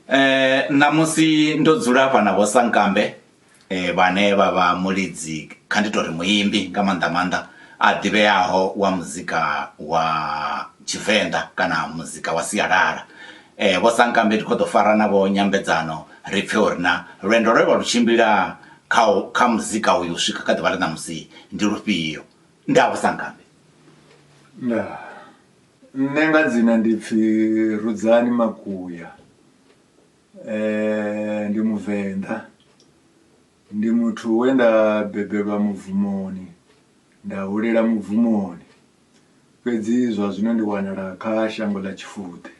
Eh ṋamusi ndo dzula hafha na vho sankambe vhane vha vha mulidzi kha ndi tori muimbi nga maanḓa maanḓa a ḓivheaho wa muzika wa tshivenḓa kana muzika wa sialala. Vho sankambe ndi kho ḓo fara navho nyambedzano ri pfhe uri na lwendo lwe vha lu tshimbila kha kha muzika uyu u swika kha ḓuvha ḽa ṋamusi ndi lufhio. Ndaa vho sankambe. Ndaa. Nṋe nga dzina ndi pfi Rudzani Makuya ndi muvenḓa ndi muthu we nda bebelwa mubvumoni nda hulela mubvumoni fhedzi zwa zwino ndi wanala kha shango ḽa Tshifudi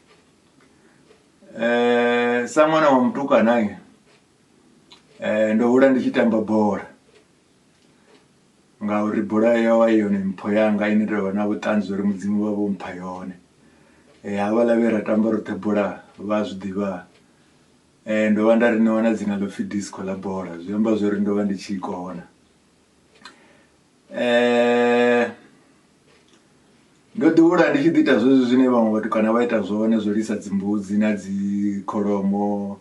sa ṅwana wa mutukana ndo hula ndi tshi tamba bola Ngauri bola ya yovha i yone mpho yanga ine nda vha na vhuṱanzi uri mudzimu vha vho mpha yone havhala vhe ra tamba roṱhe bola vha a zwiḓivha ndo vha nda ri ṋewa na dzina ḽo pfhi disco ḽa bola zwi amba zwori ndo vha ndi tshi i kona ndo ḓi hula ndi tshi ḓi ita zwezwi zwine vhaṅwe vhatukana vha ita zwone zwo lisa dzimbudzi na dzi kholomo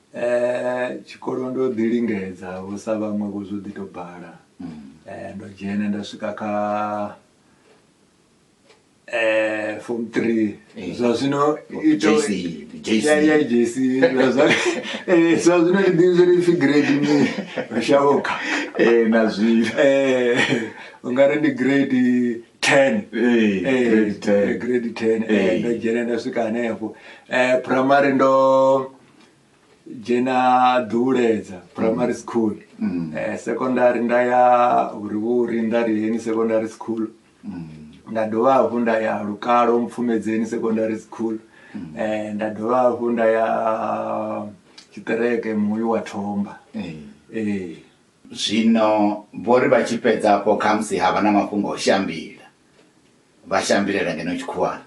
Tshikolo ndo ḓi lingedza vho sa vhaṅwe vho zwo ḓi to bala ndo dzhena nda swika kha form three zwa zwino zwa zwino ndi ḓivhi zwori ipfhi grade mini shavho kha na zwino ungari ndi grade ten grade ten ndo dzhena nda swika hanefho phuraimari ndo dzhena ḓuhuledza primary mm. school mm. eh, secondary nda ya hurivhuri nda riheni secondary school mm. nda dovha hafhu nda ya lukalo mpfumedzeni secondary school mm. eh, nda dovha hafhu nda ya tshiṱereke muyu wa thomba eh. Eh. zwino vho ri vha tshi fhedza afho khamusi ha vha na mafhungo o shambila vha shambilela ngeno tshikhuwana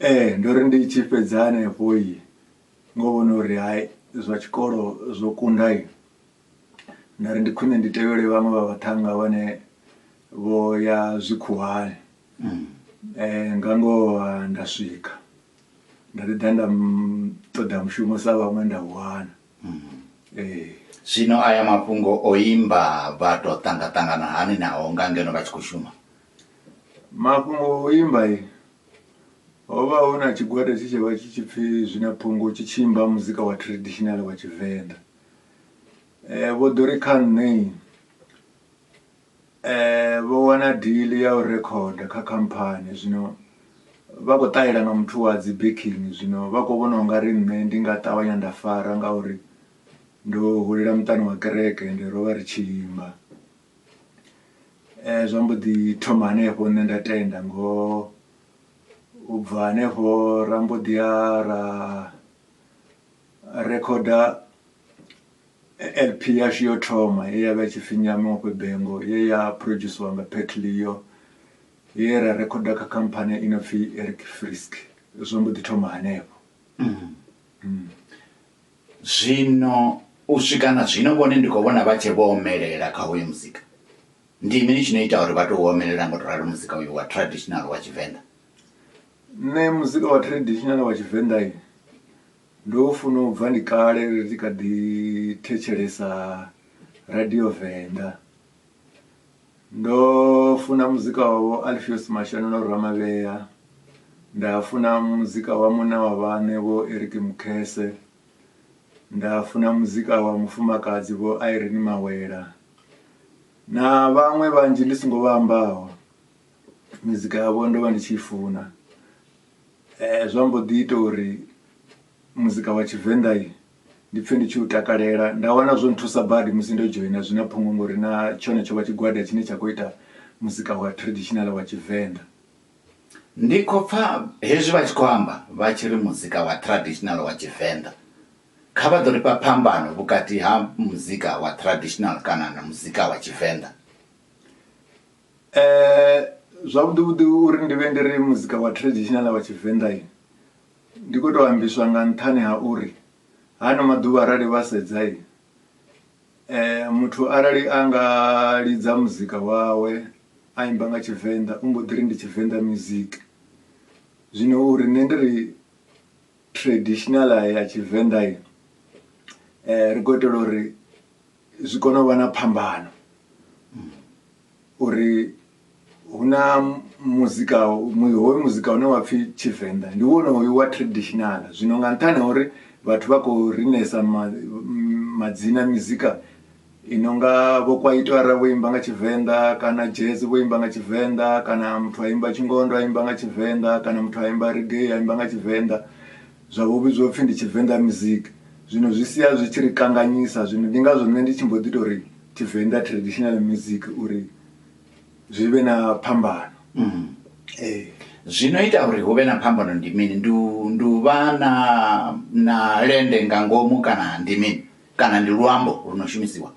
Ee ndo ri ndi tshi fhedza hanefho ngo vhona uri hai zwa tshikolo zwo kunda nda ri ndi khwine ndi tevhele vhaṅwe vha vhaṱhannga vhane vho ya zwikhuwani mm. eh, nga ngoho nda swika nda ḓi ḓa nda ṱoḓa mushumo sa vhaṅwe nda wana mm. eh. zwino aya mafhungo o imba vha to ṱangaṱangana hani naho nga ngeno vha tshi khou shuma Mafhungo a u imba ho vha hu na tshigwada tshe tsha vha tshi tshi pfhi zwi na phungo tshi tshi imba muzika wa traditional wa Tshivenḓa. Vho ḓo ri kha nṋe vho wana deal ya u rekhoda kha khamphani zwino vha khou ṱahela nga muthu wa dzi backing zwino vha kho vhona ungari nṋe ndi nga ṱavhanya nda fara ngauri ndo hulela muṱani wa kereke ende ro vha ri tshi imba. Zwa mbo ḓi thoma hanefho nṋe nda tenda ngoho u bva hanefho ra mbo ḓi ya ra rikhoda L_P yashu yo thoma ye ya vha i tshi pfhi Nyamiwapo Bengo ye ya phurodzhusiwa nga Pat Leo ye ra rikhoda kha khamphani i no pfhi Eric Frisk zwo mbo ḓi thoma hanefho. Zwino, u swika na zwino, vhone ndi khou vhona vha tshee vho omelela kha hoyu muzika. Ndi mini tshi no ita uri vha tou omelela nga u tou ralo muzika uyu wa traditional wa Tshivenḓa? Nṋe muzika wa traditional wa Tshivenḓa, ndo u funa u bva ndi kale ri tshi kha ḓi thetshelesa Radio Venḓa. Ndo funa muzika wa vho Alfios Mashanu na Ramavhea nda funa muzika wa munna wa vhaṋe vho Eric Mukhese nda funa muzika wa mufumakadzi vho Irene Mawela na vhaṅwe vhanzhi ndi songo vha ambaho mizika yavho ndo vha ndi tshi i funa zwa mbo ḓi ita uri muzika wa tshivenḓa ndi pfhe ndi tshi u takalela nda wana zwo nthusa badi musi ndo dzhoina zwi na phungo ngori na tshone tsho vha tshigwada tshine tsha khou ita muzika wa traditional wa tshivenḓa ndi khou pfa hezwi vha tshi khou amba vha tshi ri muzika wa traditional wa tshivenḓa kha vha ḓo ri fha phambano vhukati ha muzika wa traditional kana na muzika wa tshivenḓa um zwavhuḓi vhuḓi uri ndi vhe ndi ri muzika wa traditional wa tshivenḓa Ndi khou tou ambiswa nga nṱhani ha uri hano maḓuvha arali vha sedza muthu arali a nga lidza muzika wawe a imba nga Tshivenḓa u mbo ḓi ri ndi Tshivenḓa music. Zwino uri nṋe ndi ri traditional ya Tshivenḓa ri khou itela uri zwi kone u vha na phambano uri hu na muzika hoyu muzika une wa pfhi tshivenḓa ndi wone hoyu wa traditional zwino nga nṱhani ha uri vhathu vha khou rinesa madzina mizika i no nga vho kwaito ara vho imba nga tshivenḓa kana jazz vho imba nga tshivenḓa kana muthu a imba tshingondo a imba nga tshivenḓa kana muthu a imba reggae a imba nga tshivenḓa zwa vho vhidzwa upfhi ndi tshivenḓa music zwino zwi sia zwi tshi ri kanganyisa zwino ndi ngazwo nṋe ndi tshi mbo ḓi tori tshivenḓa traditional music uri zwi vhe na phambano mm. ee zwino ita uri hu vhe na phambano ndi mini ndi ndi u vha na na lende nga ngomu kana ndi mini kana ndi luambo lu no shumisiwa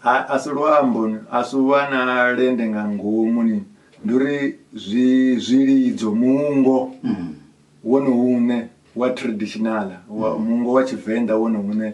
a a si luambo a si u vha na lende nga ngomu ni ndi uri zwi zwilidzo mungo Mm. wone une wa traditional wa mungo wa tshivenḓa wone une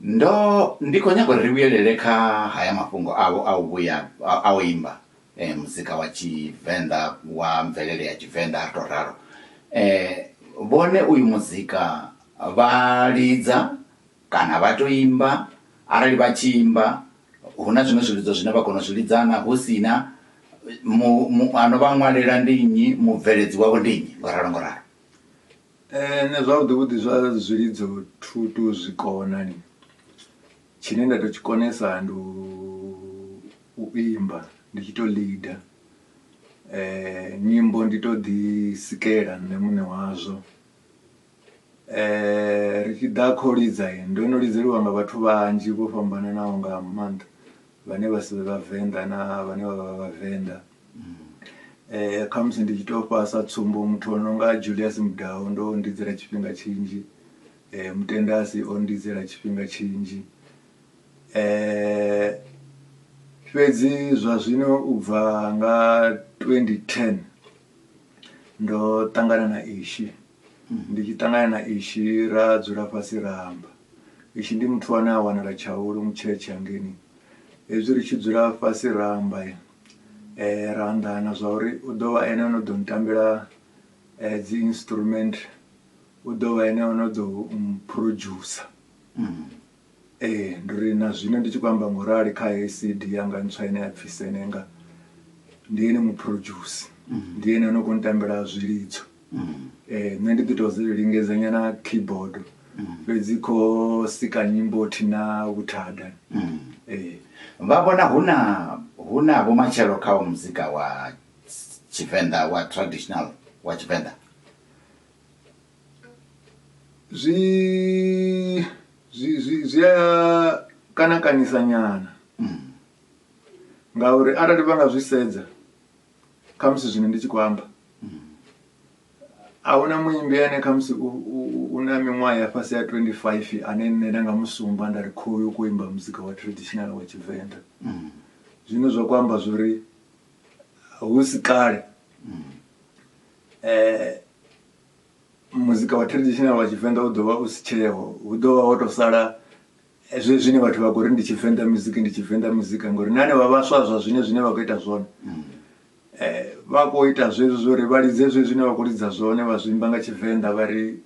Ndo, ndi khou nyaga uri ri vhuyelele kha haya mafhungo avho a u vhuya a u imba muzika wa Tshivenḓa wa mvelele ya Tshivenḓa, ri tou ralo. Vhone uyu muzika vha lidza kana vha tou imba? Arali vha tshi imba, hu na zwiṅwe zwilidzo zwine vha kona u zwi lidza naa? Hu si na, mu, mu, a no vha ṅwalela ndi nnyi? Mubveledzi wavho ndi nnyi? Ngo ralo, ngo ralo. Nṋe zwavhuḓi vhuḓi zwa zwilidzo thu to zwi kona ni tshine nda to tshi konesa ndi u imba ndi tshi to leader nyimbo ndi to ḓi sikela nṋe muṋe wazwo. Ri tshi ḓa kho lidza ndo no lidzeliwa nga vhathu vhanzhi vho fhambananaho nga maanḓa vhane vha si vhe vhavenḓa na vhane vha vha vhavenḓa. Eh khamusi ndi tshi to fha sa tsumbo muthu ono nga Julius Mudau ndo ndidzela tshifhinga tshinzhi eh Mutendasi o ndidzela tshifhinga tshinzhi eh fhedzi zwa zwino u bva nga twendi ten ndo ṱangana na Ishi ndi tshi ṱangana na Ishi ra dzula fhasi ra amba Ishi ndi muthu ane a wanala Tshaulu Mutshetshe hangeini hezwi ri tshi dzula fhasi ra amba. ra anḓana zwa uri u ḓo vha ene no ḓo ntambela dzi instrument u ḓo vha ene ono ḓo producer mm. ee ndi ri na zwino ndi tshi khou amba ngorali kha heyi cd yanga ntswa ine ya pfhi senenga ndi ene muproduce mm. ndi ene ono kho ntambela zwilidzo nṋe ndi ḓi to zwi lingedza nyana keyboard fhedzi kho sika nyimbo thi na vhuthada ee vha vhona hu na hu na vhumatshelo kha u muzika wa tshivenḓa wa traditional wa tshivenḓa zwi zwi zwi zwi a kana kanisa nyana ngauri arali vha nga zwi sedza khamusi zwine ndi tshi khou amba ahuna muimbi ane khamusi u na miṅwaha ya fhasi ya 25 ane nṋe nda nga musumba nda ri khoyu u khou imba muzika wa traditional wa tshivenḓa zwine zwa khou amba zwo ri hu si kale um muzika wa traditional wa tshivenḓa u ḓo vha u si tsheho hu ḓo vha ho to sala hezwi zwine vhathu vha khou ri ndi tshivenḓa muzika ndi tshivenḓa muzika ngori na hanevha vhaswa zwa zwine zwine vha khou ita zwone um vha khou ita zwezwi zwo ri vha lidze zwe zwine vha khou lidza zwone vha zwimba nga tshivenḓa vha ri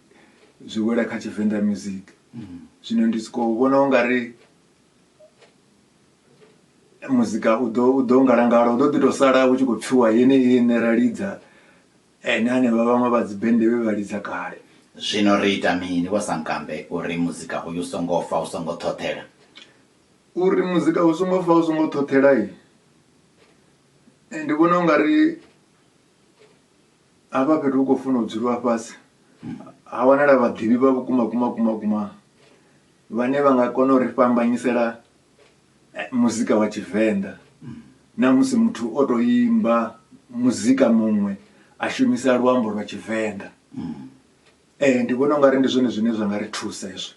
zwi wela kha tshivenḓa music mm. zwino ndi sokou vhona u nga ri muzika u ḓo u ḓo ngalangala u ḓo ḓi tou sala u tshi khou pfhiwa yeneyi ine ra lidza Ene hanevha vhaṅwe vha dzibende vhe vha lidza kale. Zwino ri ita mini, Vho Sankambe, uri muzika uyu u songo fa u songo ṱhoṱhela? Uri muzika u songo fa u songo ṱhoṱhela, ndi vhona u nga ri hafha fhethu hu khou funa u dzuliwa fhasi ha wanala vhaḓivhi vha vhukuma kuma kuma kuma vhane vha nga kona u ri fhambanyisela eh, muzika wa tshivenḓa na musi muthu o to imba muzika muṅwe a shumisa luambo lwa tshivenḓa eh ndi vhona ungari ndi zwone zwine zwa nga ri thusa hezwo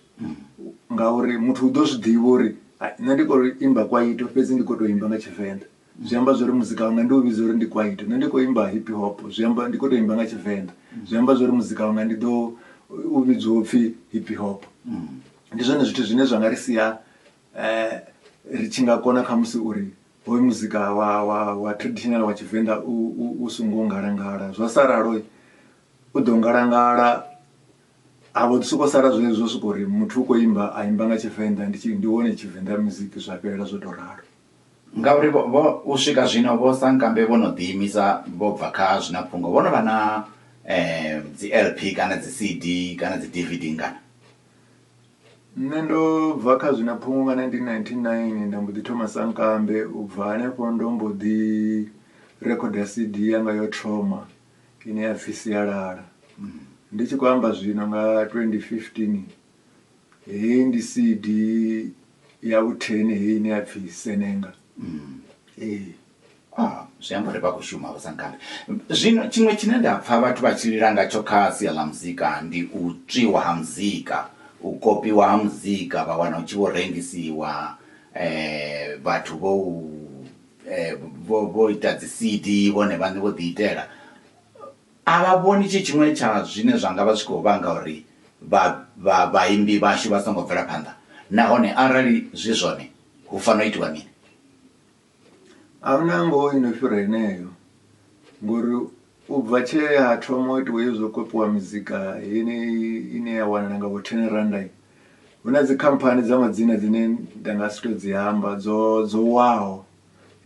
ngauri muthu u ḓo zwi ḓivha uri "Hai, nṋe ndi khou imba kwaito fhedzi ndi khou tou imba nga tshivenḓa zwi amba zwori muzika wanga ndi u vhidza uri ndi kwaito nṋe ndi khou imba hip hop zwi amba ndi khou tou imba nga tshivenḓa zwi amba zwori muzika wanga ndi ḓo u vhidzwa upfhi hip hop ndi zwone zwithu zwine zwa nga ri sia Eh, ri tshi nga kona kha musi uri hoyu muzika wa, wa, wa traditional wa tshivenḓa u, u, u songo ngalangala zwa sa ralo u ḓo ngalangala ha vho ḓi sokou sala zwine zwo sokou uri muthu u khou imba a imba nga tshivenḓa ndi tshi ndi wone tshivenḓa muziki zwa fhelela zwo tou ralo ngauri vho, vho u swika zwino vho sankambe vho no ḓiimisa vho bva kha zwina phungo vho no vha na um dzi lp kana dzi cd kana dzi dvd ngana Nṋe ndo bva kha zwi na phungo nga 1999 nda mbo ḓi thoma sankambe u bva hanefho ndo mbo ḓi rekhoda CD yanga yo thoma ine ya pfhi sialala ndi tshi khou amba zwino nga 2015 heyi ndi CD ya vhutheni heyi ine ya pfhi senenga ee. Ah, zwi amba uri vha khou shuma vhasankambe zwino tshiṅwe tshine nda pfa vhathu vha tshi lila ngatsho kha sia ḽa muzika ndi u tswiwa ha muzika u kopiwa ha muzika vha wana u tshi vho rengisiwa um vhathu vho u um vho ita dzi C_D vhone vhaṋe vho ḓi itela a vha vhoni tshi tshiṅwe tsha zwine zwa nga vha zwi khou vhanga uri vha vha vhaimbi vhashu vha songo bvela phanḓa nahone arali zwi zwone hu fanela u itiwa mini. A hu na ngoho i no fhira heneyo ngori u bva tshe ha thoma u itiwa hezwi zwo kopiwa mizika yeneyi ine ya wanala nga vho ten randa hu na dzikhamphani dza madzina dzine nda nga si tou dzi amba dzo dzo waho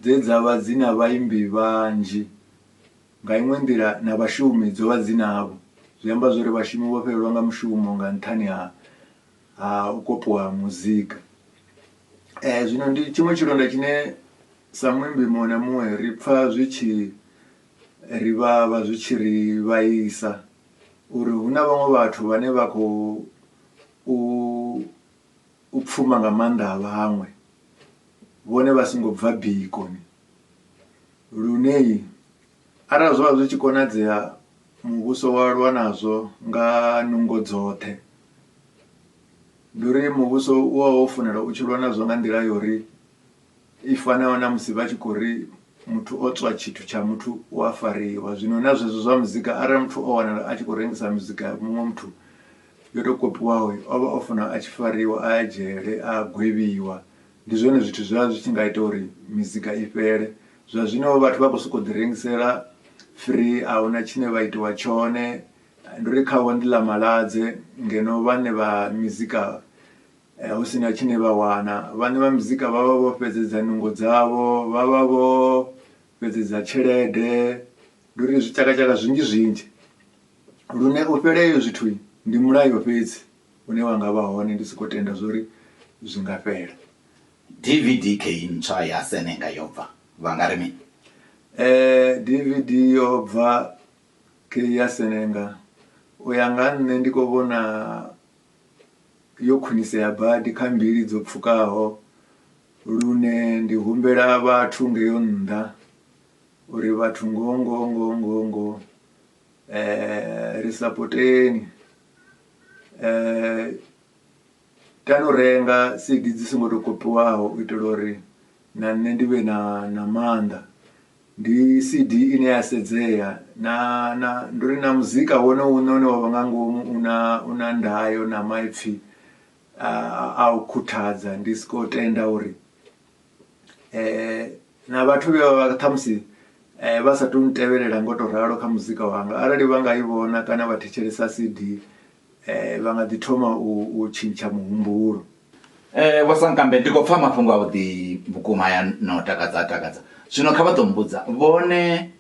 dze dza vha dzi na vhaimbi vhanzhi nga iṅwe nḓila na vhashumi dzo vha dzi navho. Zwi amba zwori vhashumi vho fhelelwa nga mushumo nga nṱhani ha ha u kopiwa ha muzika um zwino ndi tshiṅwe tshilonda tshine sa muimbi muṅwe na muṅwe ri pfha zwi tshi ri vhavha zwi tshi ri vhaisa uri hu na vhaṅwe vhathu vhane vha khou u pfuma nga maanḓa a vhaṅwe vhone vha songo bva bikoni lune. Arali zwa vha zwi tshi konadzea, muvhuso wa lwa nazwo nga nungo dzoṱhe. Ndi uri muvhuso u vha wo fanela u tshi lwa nazwo nga nḓila ya uri i fanaho na musi vha tshi khou ri muthu o tswa tshithu tsha muthu u a fariwa. Zwino na zwezwo zwa muzika arali muthu o wanala a tshi khou rengisa muzika ya muṅwe muthu yo tou kopiwaho, o vha o fanela a tshi fariwa, a ya dzhele, a gwevhiwa. Ndi zwone zwithu zwe zwa zwi tshi nga ita uri mizika i fhele zwa zwino vhathu vha khou sokou ḓi rengisela free a huna tshine vha itiwa tshone ndi uri khavho ndi ḽa maladze ngeno vhane vha mizika hu si na tshine vha wana. Vhaṋe vha mizika vha vha vho fhedzedza nungo dzavho vha vha vho fhedzedza tshelede ndi uri zwi tshaka tshaka zwinzhi zwinzhi lune u fhela hezwo zwithu ndi mulayo fhedzi. une wa nga vha hone ndi si khou tenda zwo ri zwi nga fhela. DVD key ntswa ya Senenga yo bva, vha nga ri mini? DVD yo bva key ya Senenga, u ya nga nṋe ndi khou vhona yo khwinisea badi kha mbili dzo pfukaho lune ndi humbela vhathu ngeyo nnḓa uri vhathu ngoho ngoho ngoho ngoho ngoho ri sapoteni. Kana u renga cd dzi songo to kopiwaho u itela uri na nṋe ndi vhe na na maanḓa ndi cd ine ya sedzea na na ndi uri na muzika wone u ne une wavha nga ngomu u na u na ndayo na maipfhi a u khuthadza ndi soko tenda uri. na vhathu vhe vha vha ṱhamusi vha sa tou ntevhelela ngo tou ralo kha muzika wanga arali vha nga i vhona kana vha thetshelesa cd vha nga ḓi thoma u tshintsha muhumbulo. Vho Sankambe ndi khou pfha mafhungo a vhuḓi vhukuma haya na u takadza a takadza zwino kha vha ḓo mbudza vhone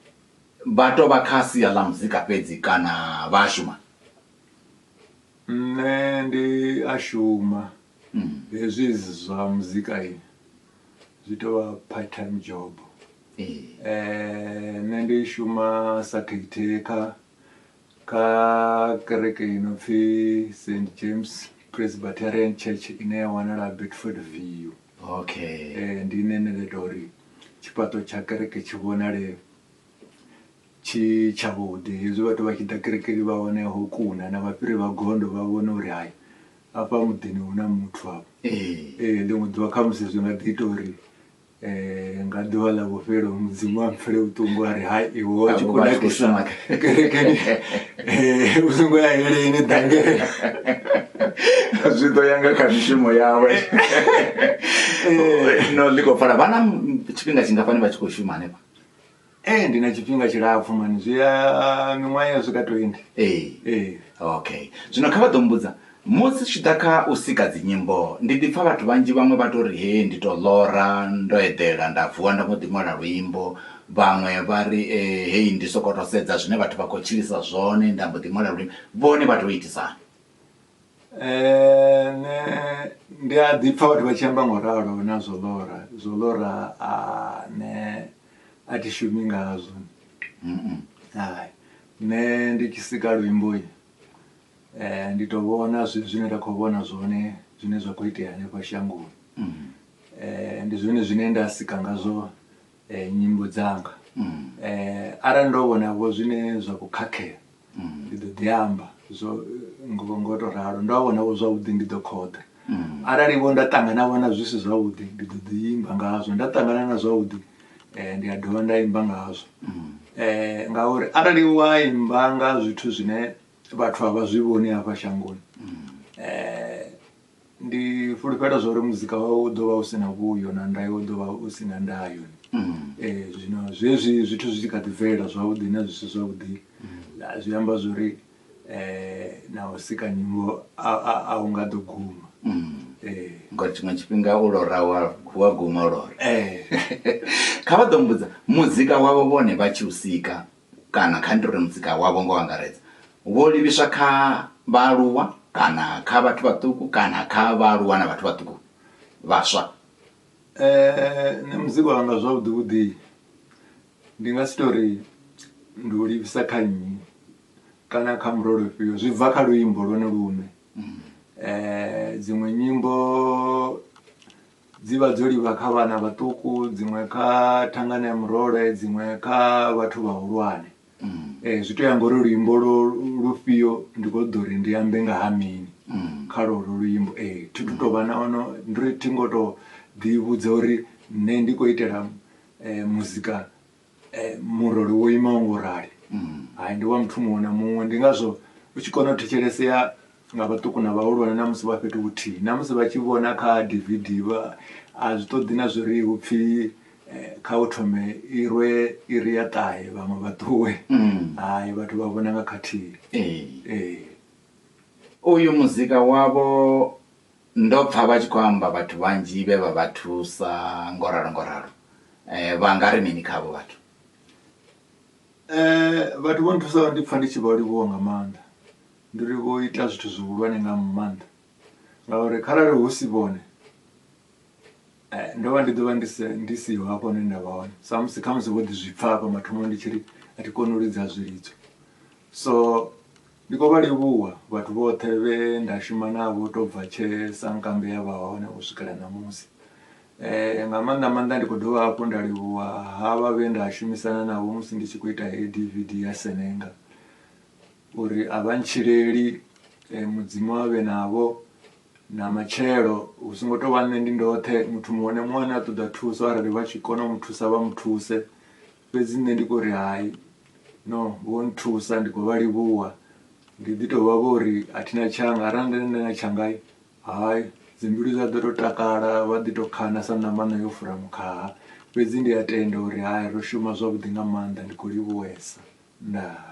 vha to vha kha sia ḽa muzika fhedzi kana vha a shuma? Nṋe ndi a shuma. hezwi zwa muzika i zwi tou vha part time job um nṋe ndi shuma sa caretaker kha kereke i no pfhi st james presbyterian church ine ya wanala bedford view okay um ndi ine nda ita uri tshifhaṱo tsha kereke tshi vhonale Tshi tshavhuḓi. Hezwi vhathu vha tshi ḓa kerekeni vha wane ho kuna na vhafhiri vha gondo vha vhone uri hai afha muḓini hu na muthu afha. Ee ḽiṅwe ḓuvha khamusi zwi nga ḓi ita uri nga ḓuvha ḽa vhufhelo mudzimu a mpfhele vhuṱungu a ri hai iwe wa tshi khou nakisa kerekeni u songo ya heleni ḓangela zwi ḓo ya nga kha mishumo yawe no ḽi khou pfala vha na tshifhinga tshingafhani vha tshi khou shuma hanefha Ee ndi na tshifhinga tshilapfhu mani zwi a miṅwaha ya swika 20. Ee. Ee. Okay. Zwino kha vha ḓo mbudza musi tshi ḓa kha u sika dzi nyimbo ndi ḓi pfa vhathu vhanzhi vhaṅwe vha tori hee ndi to ḽora ndo eḓela nda vuwa nda mbo ḓi ṅwala luimbo vhaṅwe vha ri hei ndi soko to sedza zwine vhathu vha kho tshilisa zwone nda mbo ḓi ṅwala luimbo vhone vha to itisa hani. Nṋe ndi a ḓi pfa vhathu vha tshi amba ngo ralo nazwo ḽora zwo ḽora nṋe a thi shumi ngazwo hai nṋe ndi tshi sika luimbo um ndi to vhona zwithu zwine nda khou vhona zwone zwine zwa khou itea hanefha shangoni um ndi zwone zwine nda sika ngazwo nyimbo dzanga um arali ndo vhonavho zwine zwa khou khakhea mm. ndi ḓo ḓi amba zwo ngo ngo to ralo ndo a vhona vho zwavhuḓi ndi ḓo khoḓa mm. arali vho nda ṱangana vhona zwi si zwavhuḓi ndi ḓo ḓi imba ngazwo nda ṱangana na zwavhuḓi um ndi a dovha nda imba ngazwo um ngauri arali wa imba nga zwithu zwine vhathu a vha zwi vhoni hafha shangoni um Ndi fhulufhela zwa uri muzika wawe u ḓovha u si na vhuyo na ndayo u ḓovha u si na ndayo zwino zwezwi zwithu zwi tshi kha ḓi bvelela zwavhuḓi na zwi si zwavhuḓi zwi amba zwori na u sika nyimbo a hu nga ḓo guma ngori tshiṅwe tshifhinga u lora wa wa guma u lora kha vha ḓo mbudza muzika wavho vhone vha tshi u sika kana kha ndi ri mudzika wavho nga u angaredza vho livhiswa kha vhaaluwa kana kha vhathu vhaṱuku kana kha vhaaluwa na vhathu vhaṱuku vhaswa? Nṋe mudzika wanga zwavhuḓi vhuḓi ndi nga si tori ndi u livhisa kha nnyi kana kha murole ufhio zwi bva kha luimbo lwone lune dziṅwe nyimbo. Dzi vha dzo livha kha vhana vhaṱuku dziṅwe kha thangana ya murole dziṅwe kha vhathu vhahulwane um zwi to ya ngori luimbo lwo lufhio ndi kho ṱoḓa uri ndi ambe nga ha mini kha lwolwo luimbo ee eh, thi tu to vha na ono ndi ri thi ngo to ḓi vhudza uri nṋe ndi khou itela um muzika eh, murole wo imaho ngo rali mm. hai ndi wa muthu muṅwe na muṅwe ndi ngazwo u tshi kona u thetshelesea nga vhaṱuku na vhahulwane na musi vha fhethu vhuthihi na musi vha tshi vhona kha dvd vha a zwi ṱoḓi na zwi ri hu pfhi eh, kha u thome i rwe i ri ya ṱahe vhaṅwe vha ṱuwe mm. hai vhathu vha vhona nga khathihi uyu muzika wavho Ndo pfa vha tshi khou amba vhathu vhanzhi vhe vha vha thusa ngo ralo ngo ralo. Vha nga ri mini kha avho vhathu? Vhathu vho nthusaho ndi pfa ndi tshi vha livhuwa nga maanḓa. Ndi uri vho ita zwithu zwihulwane nga maanḓa ngauri kharali hu si vhone. eh, ndo vha ndi ḓo vha ndi siho hafho hune nda vha hone samusi khamusi vho ḓi zwi pfa hafha mathomo ndi tshi ri a thi koni u lidza zwilidzo so ndi khou vha livhuwa vhathu vhoṱhe vhe nda shuma navho to bva tshe sankambe ya vha hone u swikela ṋamusi um nga maanḓa maanḓa ndi khou dovha hafhu nda livhuwa ha vha vhe nda shumisana navho musi ndi tshi khou ita heyi d v d ya senenga uri a vha ntshileli um mudzimu a vhe navho na matshelo hu songo tou vha nṋe ndi ndoṱhe muthu muṅwe na muṅwe ane a ṱoḓa thuso arali vha tshi kona u mu thusa vha mu thuse fhedzi nṋe ndi khou ri hai no vho nthusa ndi khou vha livhuwa ndi ḓi tou vha vho ri a thina tshanga arali nda nda na tshanga hai dzimbilu dza ḓo tou takala vha ḓi tou khana sa ṋamana yo fura mukhaha fhedzi ndi a tenda uri hai ro shuma zwavhuḓi nga maanḓa ndi khou livhuwesa ndaa.